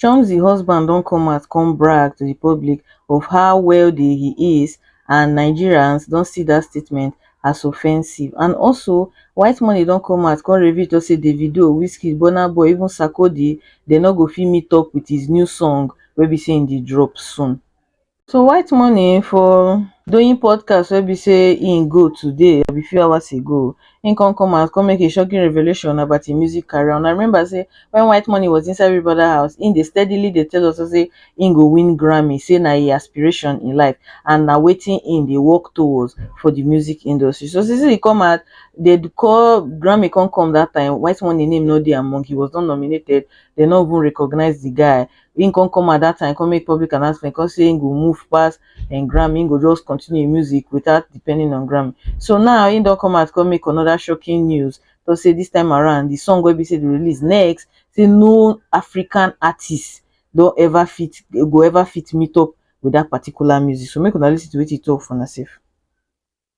chomzy husband don come out come brag to di public of how wealthy he is and nigerians don see dat statement as offensive and also white money don come out come reveal tok say davido wizkid burna boy even sarkodie dem no go fit meet up wit his new song wey be say e dey drop soon So white money for doing podcast wey be say im go today abi few hours ago, im come come out come make a shocking revelation about im music career. Una remember say when white money was inside Big Brother house, im dey steadily dey tell us say im go win Grammy, say na im aspiration in life and na wetin im dey work towards for the music industry. So since im come out, dey call Grammy come come that time, white money name no dey among, he was not nominated, dey no even recognize the guy. him come come at that time come make public announcement come say him go move pass and Grammy him go just continue him music without depending on Grammy so now him don come out come make another shocking news to say this time around the song wey be say the release next say no African artist don ever fit go ever fit meet up with that particular music so make una listen to wetin he talk for una sef.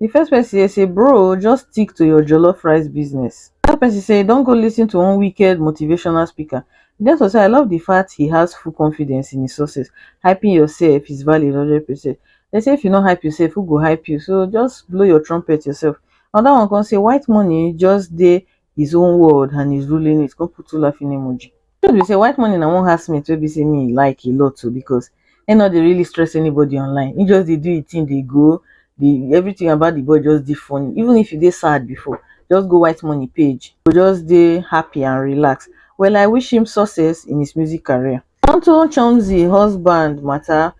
Di first person here say bro just stick to your jollof rice business. Another person say don't go listen to one wicked motivational speaker. Denso say I love the fact he has full confidence in his success. Hyping yourself is valid 100%. They say if you no hype yourself, who go hype you? So just blow your trumpet yourself. Another one come say white money just dey his own world and he's ruling it come put two laughing emoji truth be say white money na one housemate wey be say me like a lot too because he no dey really stress anybody online he just dey do his thing dey go the everything about the boy just dey funny even if you dey sad before just go white money page go just dey happy and relax well i wish him success in his music career onto chomzy husband matter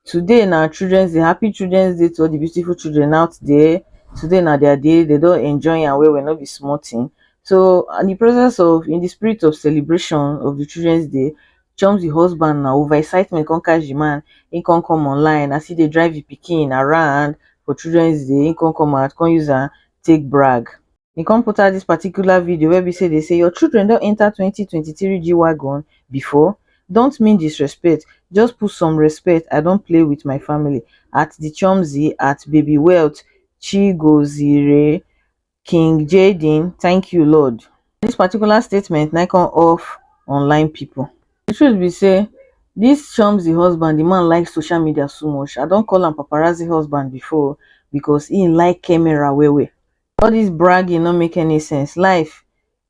Today na children's day, happy children's day to all di beautiful children out there, today na dia day dem don enjoy am well well no be small tin. So in di presence of in di spirit of celebration of di children's day, Chomzy husband na over excitement kon catch di man, e kon come online as e dey drive di pikin around for children's day, e kon come out kon use am take brag. e come put out this particular video wey be say dey say your children don enter 2023 g-wagon before don't mean disrespect just put some respect i don't play with my family at the chomzy at baby wealth chigozire king jaden thank you lord this particular statement na come off online people the truth be say this chomzy husband the man like social media so much i don call am paparazzi husband before because he like camera well well all dis bragging no make any sense life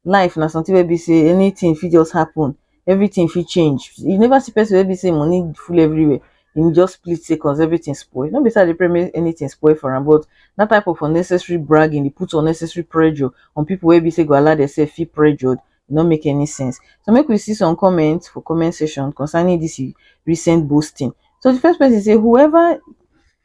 life na something wey be sey anything fit just happen everything fit change you never see person wey be sey money full everywhere him just split sey cause everything spoil no be sey I dey pray make anything spoil for am but that type of unnecessary bragging dey put unnecessary pressure on people wey be sey go allow themselves feel pressured e no make any sense so make we see some comment for comment section concerning this recent boasting so the first person say whoever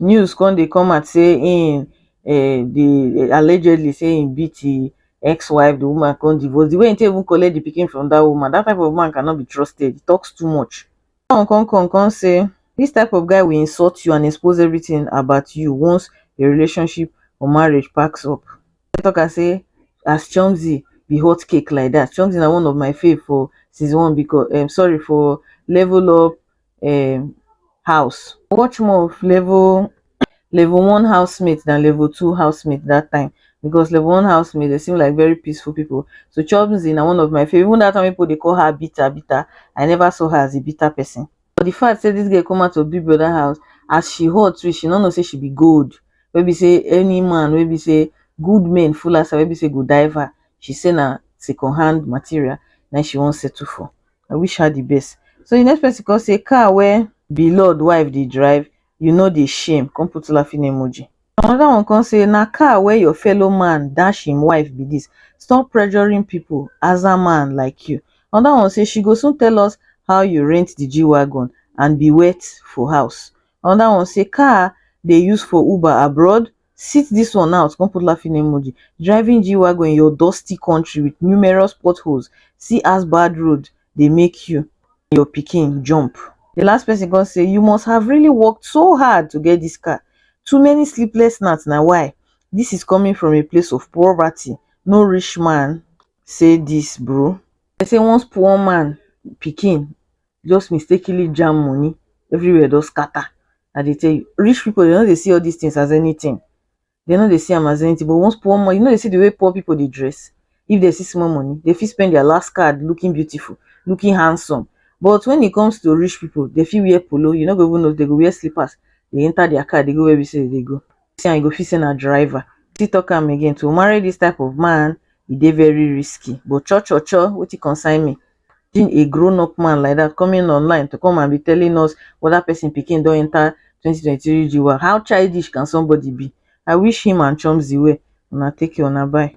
news come dey come out say im um dey allegedly say im beat im ex wife di woman come divorce di way im take even collect di pikin from dat woman dat type of man cannot be trusted he talks too much dat one come come come say dis type of guy will insult you and expose everything about you once your relationship or marriage packs up come talk am say as chomzy be hot cake like dat chomzy na one of my fave for season one becau um sorry for level up um house. Much more of level level one housemate than level two housemate that time because level one housemate they seem like very peaceful people. So Chobzi na one of my favorite. Even that time people they call her bitter bitter. I never saw her as a bitter person. But the fact say this girl come out of Big Brother house as she hot too, she no know say she be gold. Wey be say any man wey be say good men full as her wey be say go dive her. She say na second hand material na she wan settle for. I wish her the best. So the next person come say car where be lord wife dey drive, you no dey shame, come put laughing emoji. Another one come say na car where your fellow man dash him wife be this, stop pressuring people aza man like you. Another one say she go soon tell us how you rent the G wagon and be wet for house. Another one say car dey use for uber abroad sit dis one out come put laughing emoji driving g-wagon in your dusty country with numerous potholes see as bad road dey make you and your pikin jump the last person come say you must have really worked so hard to get this car too many sleepless nights na why this is coming from a place of poverty no rich man say this bro dem say once poor man pikin just mistakenly jam money everywhere don scatter i dey tell you rich people dem no dey see all these things as anything dem no dey see am as anything but once poor money you no dey see the way poor people dey dress if dem see small money dem fit spend their last card looking beautiful looking handsome but when it comes to rich people dem fit wear polo you no go even know dem go wear slippers dey enter their car dey go where be say dem dey go see am you go feel say na driver still talk am again to marry this type of man e dey very risky but cho cho cho wetin concern me imagine a grown up man like dat coming online to come and be telling us weda person pikin don enter twenty twenty three GWAR how childish can somebody be I wish him and chomzy well una take care una bye.